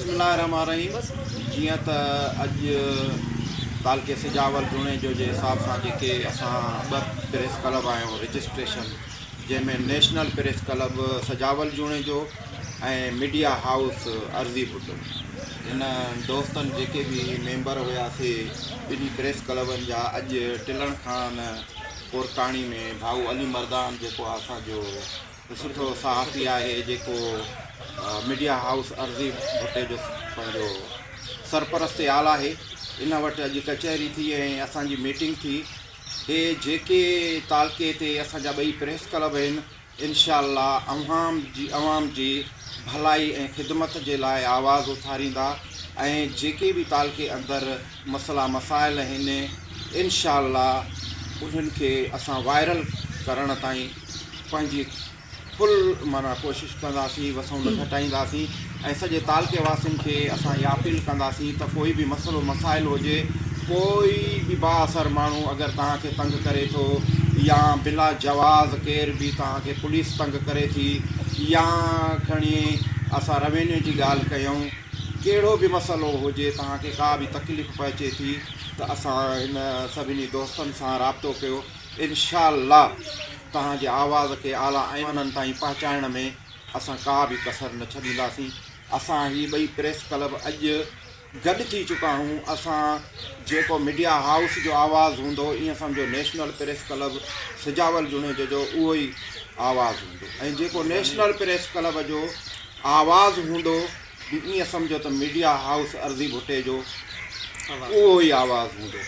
بسم الله الرحمٰن الرحيم جيئن ته اڄ تعلقي سجاول جوڻيجو جي حساب سان جيڪي اسان ٻه پريس ڪلب آهيون رجسٽريشن جنهن ۾ national press club Sujawal Junejo ۽ media house Arzi Bhutto هن دوستن جيڪي به ميمبر هيا سي ٻنهي پريس ڪلبن جا اڄ ٽلڻ کان ڪورڪاڻي ۾ ڀائو علي مردان جيڪو اسان جو سٺو صحافي آهي جيڪو ميڊيا هائوس عرضي ڀٽي جو پنهنجو سرپرست يال آهي ان وٽ اڄ ڪچهري ٿي ۽ اسان جي ميٽنگ ٿي هي جيڪي تعلقي تي اسان جا ٻئي پريس ڪلب آهن انشاء الله عوام جي عوام جي ڀلائي ۽ خدمت جي لاء آواز اٿاريندا ۽ جيڪي به تعلقي اندر مسئلا مسائل آهن انشاء الله انهن کي اسان وائرل ڪرڻ تائين پنهنجي فل معنيٰ ڪوشش ڪنداسين وسون نه گهٽائينداسين ۽ سڄي تعلقي واسين کي اسان اها اپيل ڪنداسين ته ڪوئي به مسئلو مسائل هجي ڪوئي به با اثر ماڻهو اگر توهان کي تنگ ڪري ٿو يا بلا جواز ڪير به توهان کي پوليس تنگ ڪري ٿي يا کڻي اسان روينيو جي ڳالهه ڪيون ڪهڙو به مسئلو هجي، توهان کي ڪا به تڪليف پهچي ٿي ته اسان هن سڀني دوستن سان رابطو ڪيو انشاء الله توهان جي آواز کي اعليٰ ايوانن تائين پهچائڻ ۾ اسان ڪا به ڪسر نه ڇڏينداسين اسان هي ٻئي پريس ڪلب اڄ گڏ ٿي چڪا هون اسان جيڪو ميڊيا هائوس جو آواز هوندو ايئن سمجهو national press club Sujawal Junejo جو اهو ئي آواز هوندو ۽ جيڪو نيشنل پريس ڪلب جو آواز هوندو به ايئن سمجهو ته ميڊيا هائوس ارضي ڀٽي جو اهو ئي آواز هوندو.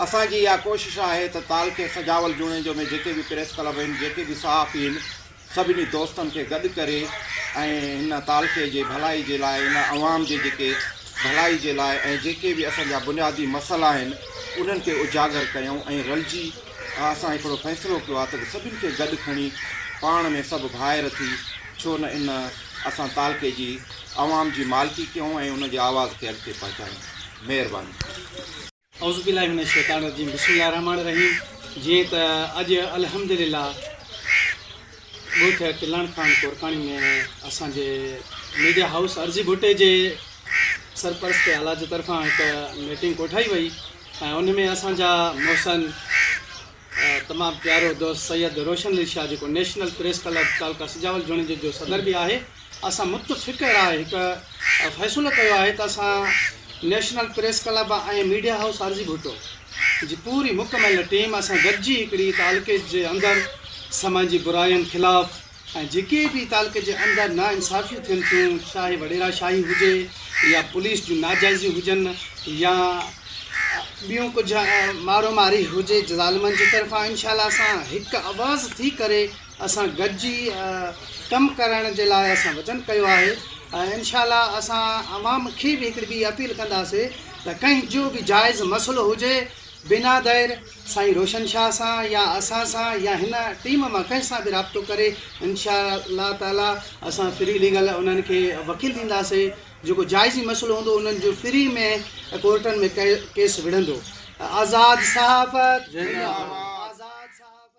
اسان جي اها ڪوشش آهي ته تعلقي سجاول جوڻيجو ۾ جيڪي به پريس ڪلب آهن، جيڪي به صحافي آهن، سڀني دوستن کي گڏ ڪري ۽ هن تعلقي جي ڀلائي جي لاء هن عوام جي جيڪي ڀلائي جي لاء ۽ جيڪي به اسان جا بنيادي مسئلا آهن انهن کي اجاگر ڪيون ۽ رلجي آء اسان هڪڙو فيصلو ڪيو آ ته سڀن کي گڏ کڻي پاڻ ۾ سڀ ڀائر ٿي ڇو نه ان اسان تعلقي جي عوام جي مالڪي ڪيون ۽ ان جي آواز کي اڳتي پهچايون مهرباني. اعوذ بالله من الشيطان الرجيم بسم الله الرحمٰن الرحيم جيئن ته اڄ الحمدلله ڳوٺ ڪلڻ خان ڪورڪاڻي ۾ اسان جي ميڊيا هائوس ارزي ڀٽي جي سرپرستي اعليٰ جي طرفان هڪ ميٽنگ ڪوٺائي وئي ۽ ان ۾ اسان جا محسن تمام پيارو دوست سيد روشن علي شاهه جيڪو national press club taluka Sujawal جوڻيجي جو صدر به آهي اسان متفق راء هڪ فيصلو ڪيو آهي ته اسان national press club ۽ media house Arzi Bhutto جي پوري مڪمل ٽيم اسان گڏجي هڪڙي تعلقي جي اندر سماجي براين خلاف ۽ جيڪي به تعلقي جي اندر نا انصافيون ٿين ٿيون چاهي وڏيرا شاهي هجي يا پوليس جون ناجائزيون هجن يا ٻيون ڪجهه مارو ماري هجي ظالمن جي طرفان انشاء الله اسان هڪ آواز ٿي ڪري اسان گڏجي ڪم ڪرڻ جي لاء اسان وچن ڪيو آهي ۽ انشاء الله اسان عوام کي به هڪڙي ٻي اپيل ڪنداسي ته ڪنهن جو به جائز مسئلو هجي بنا دير سائين روشن شاهه سان يا اسان سان يا هن ٽيم مان ڪنهن سان به رابطو ڪري انشاء الله تعالي اسان فري ليگل انهن کي وڪيل ڏينداسين جيڪو جائزي مسئلو هوندو انهن جو فري ۾ ڪورٽن ۾ ڪيس وڙهندو آزاد صحافت زنده باد آزاد صحافت.